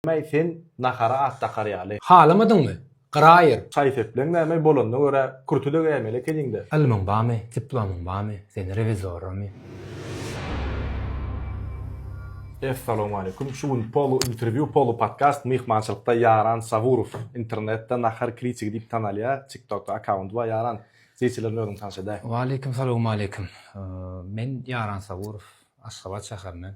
Nämeý sen nahara at dakar ýaly. Halamadyňmy? Gyraýyr. Şaý-sepleň nämeý bolanyna görä kürte-de geýmeli ekeniň-dä. Ylmyň bamy, diplomyň bamy, seni rewizoramy? Essalowmaleýkum. Şu gün polu interwýu, polu podkast myhmançylykda Ýaran Saburow. Internetde Nahar kritigi diýip tanalýar. Tiktokda akkaunty bar Ýaran. Zeýçilerden özüňi tanyş edäý. Waleýkim salowmaleýkim. Men Ýaran Saburow. Aşgabat şäherinden.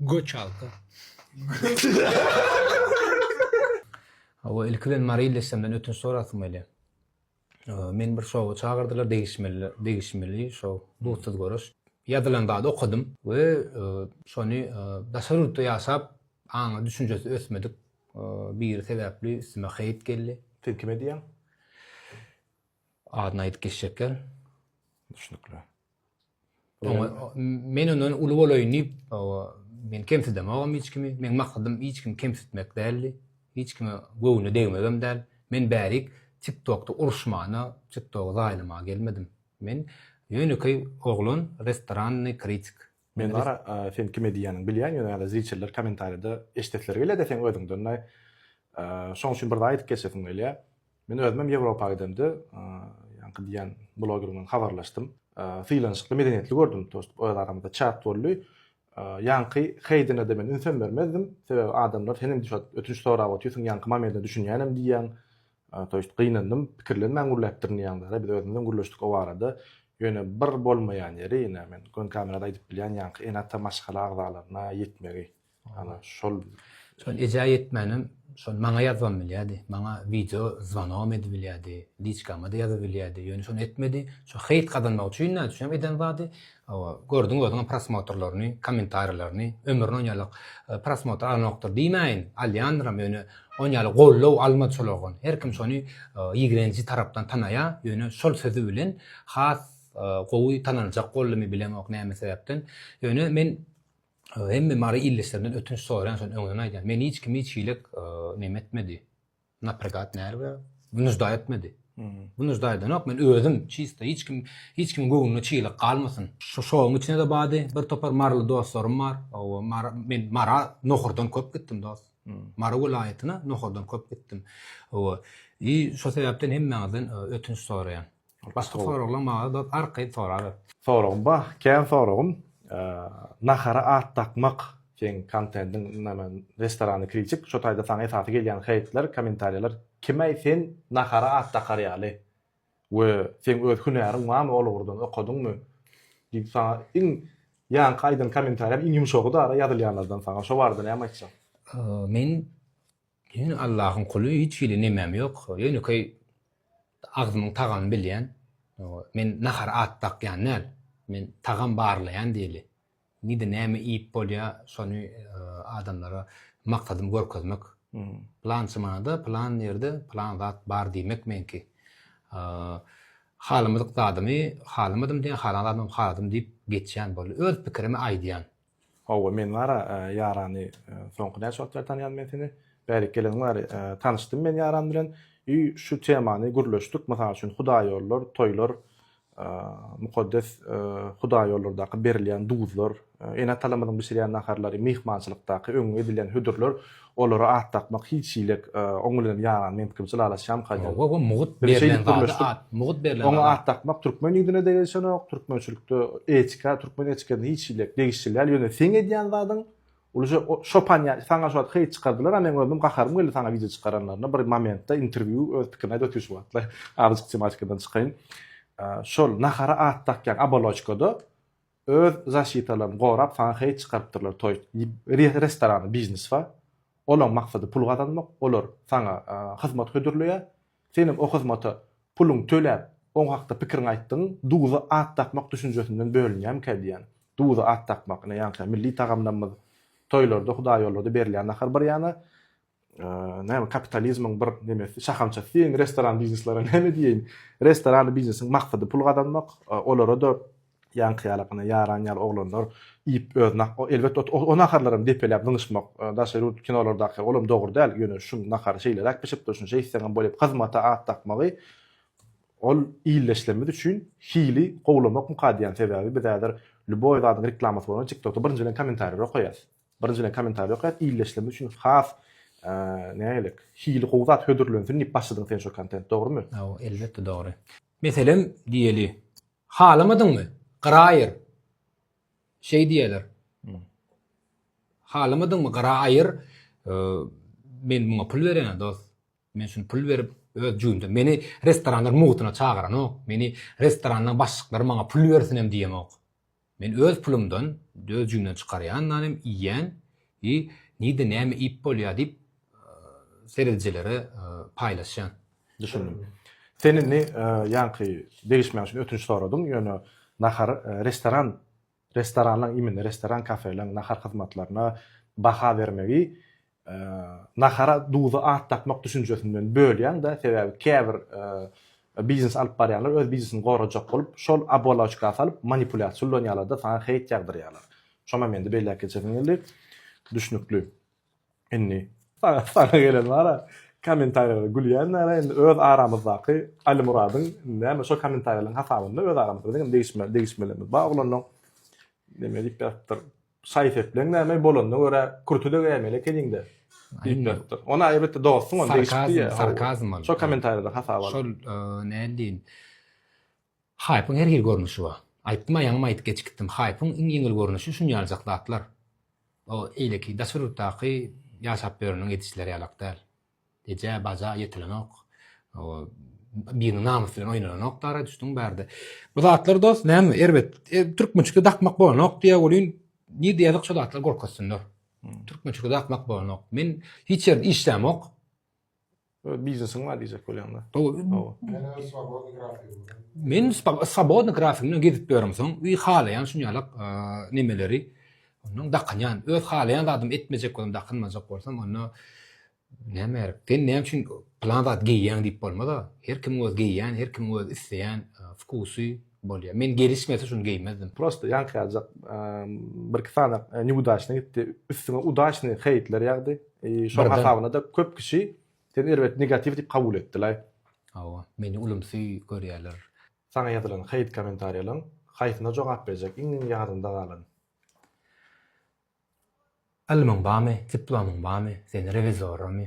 Göç alsa. Hawa, ilki bilen Maryly eşemden ötünç sorasym gelýär. Meni bir şowa çagyrdylar, degişmeli, degişmeli şo dutsuz görüş. Ýazylan zady okadym we şony daşary ýurtda ýaşap, aňy, düşünjesi ösmedik biri sebäpli üstüme heýt geldi. Siz kime diýýäň? Adyny aýdyp geçjekler. Düşnükli. Oňa men ondan uly bolaýyn diýip, owa, men kemsidemogam hiç kimi. Meň maksadym hiç kimi kemsitmek däldi. Hiç kime göwnüne degmegem däl. Men bärik TikTokda uruşmana, TikTogy zaýalamaga gelmedim. Men ýönekeý oglan, restorannyý kritik. Men Zara sen kime diýýäniňi bilýän ýöne ýa-da zriçeller kommentariýada eşidesileri gelýä-dä seň özüňden näý şoň üçin bir zat aýdyp geçesim gelýä men özümem ýewropa gidemde ýaňky diýýän bloger bilen habarlaşdym sylanyşykly medeniýetli gördüm to ýest öz aramyzda çat boldy ýaňky heýdine-de men ünsem bermezdim sebäbi adamlar senem düşat ötünç sorap otyrsyň ýaňky mameldine düşünýänem diýýäň Toýşt, gynandym. Pikirlenmän gürläpdirin diýýäňdä-da, biz özümizem gürleşdik o barada. Ýöne bir bolmaýan ýeri, ine, men göni kamerada aýdyp bilýän ýaňky ene-ata maşgala agzalaryna ýetmegi. Ana, şol. Şol ejä ýetmänem, şol maňa ýazybam bilýärdi. Maňa wideo zwanogam edibilýärdi, liçkama-da ýazybilýärdi. Ýöne şony etmedi. Şu heýt gazanmak üçin nädüçünem eden zady. Hawa, gördüň özüňem prosmotrlaryny, kommentariýalaryny, ömrüne onýalyk prosmotr alanokdyr diýmäýin, alýandyram, ýöne onýaly goldaw almady şol oglan. Her kim şony ýigrenji tarapdan tanaýar, ýöne şol sözi bilen has gowy tanaljak boldumy bilemok näme sebäpden. Ýöne men hemme mary ildeşlerimden ötünç soraýan şony öňden aýdýan. Meni hiç kim hiç hili neme etmedi. Napregat nerve nujda etmedi. Bu nujda edenok men özüm çista hiç kim hiç kim göwnüne çilik galmasyn. Şu şoň içine de bady bir topar marly dostlarym bar. Owa mara men mara nohurdan köp gitdim dost. Mara welaýatyna nohurdan köp gitdim. Owa. I şo sebäpden hemmäňizden ötünç soraýan. Başga soraglaň maňa dos arkaýyn soraber. Soragym ba, kän soragym. Nahara at dakmak seň kontendiň name restorany kritik şo taýda saňa esasy gelýän heýtler kommentariýalar kimäý sen nahara at dakar ýaly we seň öz hünäriň barmy ol ugurdan okadyňmy diýip saňa iň ýaňky aýdan kommentariýam iň ýumşagy dara ýazylýanlardan saňa şo barada näme aýtjaň. Men Men Allahyň kuly hiç hili nemem ýok ýönekeý agzymyň tagamyny bilýän men nahara at dakýan däl men tagam barlaýan diýeli nide näme iýip bolýa şony adamlara maksadym görkezmek pylançy manada pylan ýerde pylan zat bar diýmek meňki halamadyk zadymy halamadym diýen halan zadymam haladym diýip geçýän boldy öz pikirimi aýdýan. Howwa men bara Ýarany soňky näçe wagt bäri tanýan men seni? Bärik geleniň bäri tanyşdym men Ýaran bilen i şu temany gürleşdik mysal üçin hudaýýollar, toýlar, mukaddes hudaýýollardaky berilýän duzlar, ene-atalarymyzyň bişirýän naharlary, myhmançylykdaky öňňe edilýän hödürler Olara at dakmak hiç hilek oň bilen ýaran men pikirmçe lalaşýan kadyr. Hawa bu mugut berlen zady at mugut berlen zady. Oňa at dakmak türkmen ýüzüne degişenok türkmençilikde etika türkmen etikasyna hiç hilek degişli däl ýöne seň edýän zadyň ulja şopan ýa saňa şu wagt heý çykardylar a meň özüm gaharym geldi saňa wideo çykaranlaryna bir momentde interwýu öz pikirini aýdyp otyr şu wagtlar azajyk tematikadan çykaýyn şol nahara at dakýaň aboloçkada Öz zaşitalaryny gorap saňa heý çykarypdyrlar toý restorany biznes ba olaň maksady pul gazanmak olar saňa hyzmat hödürleýä seniň o hyzmata puluň töläp oň hakda pikiriň aýtdygyň duza at dakmak düşünjesinden bölünýämikä diýýän duza at dakmak ine ýaňky milli tagamlamyz toýlarda hudaýýollada berilýän nahar bir ýana Näme kapitalizmiň bir nemesi, şahamçasy diýeýin, restoran bizneslere näme diýeýin? Restoran biznesiň maksady pul gazanmak, olara-da ýaňky ýalakana ýaran ýaly oglanlar iýip özüne, elbetde o naharlar hem depeläp zyňyşmak, daşary ýurt kinolardaky, ol hem dogry däl, ýöne şu nahary şeýleräk bişipdir, şunça iýseň hem bolýar, hyzmata at dakmagy ol illeşlerimiz üçin hili gowlamak mukadýan, sebäbi biz häzir lýuboý zadyň reklamasy bolanda tiktokda birinji bilen kommentariýalary okaýas. Birinjiden komentariý okaýan illeşlemesi üçin has näme gerek? Hili gowy zat hödürlensin diýip başladyň sen şu kontent dogrymy? Hawa elbetde dogry. Meselem diýeli. Halamadyňmy? Gyraýyr. Şeý diýerler. Halamadyňmy? Gyraýyr. Men muňa pul berýän dost. Men şuny pul berip, öz jübimden, meni restoranlar mugytyna çagyranok, meni restoranlaň başlyklary maňa pul bersinem diýemok. Men öz pulumdan, öz jübimden çykarýan nanem iýýän i nirde näme iýip bolýar diýip seredijilere paýlaşýan. Düşündim. Sen indi ýaňky degişmäň üçin ötünç soradyň, ýöne nahar restoran Restoranlaryň, imine restoran, kafeleriň nahar hyzmatlaryna baha bermegi nahara duza at dakmak düşünjesinden bölýän-dä, sebäbi käbir biznes alyp barýanlar öz biznesini gorajak bolup, şol oboloçka salyp manipulýasiýa ulanýarlar-da, saňa heýt ýagdyrýarlar. Şoňam indi belläp geçesim geldi. Düşnükli. Indi saňa gelen bara kommentariýalara gülýänlere indi öz aramyzdaky Alimuradyň näme şo kommentariýalaryň hasabynda öz aramyzda biziň degişme degişmelerimiz bar oglanlaryň näme diýip ýatypdyr şaý sepleň näme bolanyna görä kürtüde gäýmeli ekeniňde diýip ýatypdyr ony aýbetde dogrusyň ony degişip diýýär sarkazm sarkazm şo kommentariýalar hasabynda şol nädin Haýpyň her hili görnüşi bar. Aýtdym-a ýaňam aýdyp geçip gitdim. Haýpyň iň ýeňil görnüşi şunýaljak zatlar. O eýleki daşary ýurtdaky ýaşap ýöreniň edişleri ýalak däl. Eje, baja ýetilenok. Biriniň namysy bilen oýnalanok dara düşdüň bärde. Bu zatlar dost näme erbet. Türkmen çyky dakmak bolanok diýýä welin nirde ýazyk şo zatlar görkezsinler. Türkmen çyky dakmak bolanok. Men hiç ýerde işlämok. Öz biznesiň bar diýjek bolýaňda. Men swobodny grafik bilen gezip ýörüm soň, wi halaýan şuny ýalak nemeleri ondan dakynýan. Öz halaýan zadym etmejek bolsam, dakynmajak bolsam, onda näme gerek? Sen näme üçin plan zat geýýäň diýip bolmaz-a. Her kim öz geýýän, her kim öz isleýän wkusy, bolýar. Men gelişmese şuny geýmezdim. Prosta ýaňkyajak birki sany niudaçnyý gitdi. Üstüňe udaçnyý heýtler ýagdy. Şoň hasabyna-da köp kişi seni erbet negatiw diýip kabul etdiler. Hawa, meni ulumsy görýärler. Saňa ýazylan heýt kommentariýalaryň haýsyna jogap berjek iň ýadynda galan? Ylmyň barmy, diplomyň barmy, sen rewizoramy?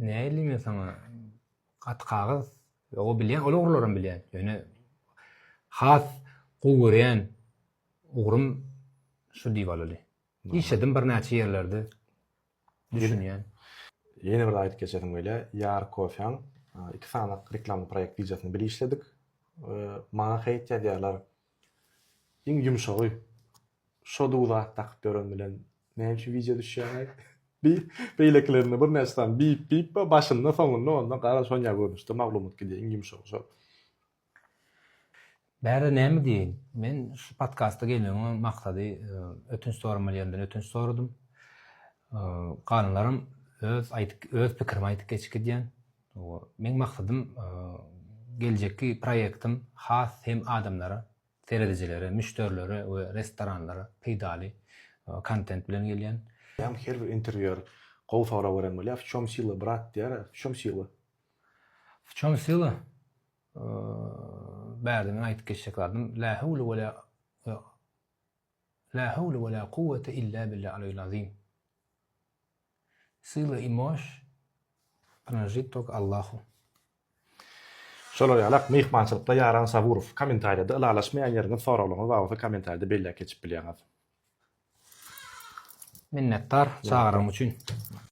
Näýleyim men saňa? Gaty kagyz. Ýoga bilýän, ol ugurlaram bilýän. Ýöne has gowy görýän ugrym şu diýip alaly. Işledim birnäçe ýerlerde. Düşünýän. Ýene bir aýdyp geçesim gelýä. Ýar kofeň iki sany reklamny proýekt gijasini bir işledik. Maňa heýt ýazýarlar. Iň ýumşagy. Şo dug zat dakyp ýören bilen näme üçin wideo düşýäňaý? Bi beýlekilerinde birnäçe sany bip bip bar başynda soňunda onda gara sonýa görnüşde maglumat gidýär iň ýumşagy şol. Bärde näme diýeýin. Men şu podkasta gelmegiň maksady ötünç soramaly ýerinden ötünç soradym. Galanlaram öz aýdyp öz pikirimi aýdyp geçip gidýän. Meň maksadym geljekki proýektim has hem adamlara Seredijilere, müşderilere we restoranlara peýdaly kontent bilen gelýän. Hem her bir interwýuer gowy sorag beren bolýar, w çom syla brat diýýär, w çom syla? W çom syla? Bärde men aýdyp geçjek zadym la howle we la la howle we la kuwwete illa billa aleyil azim. Syla i moş prinajit tok Allahu. Şolar ýaly ak myhmançylykda Ýaran Saburow. Kommentariýada ylalaşmaýan ýeriňiz, soraglaryňyz bar bolsa kommentariýada belläp geçip bilýäňiz. Minnetdar çagyryň üçin.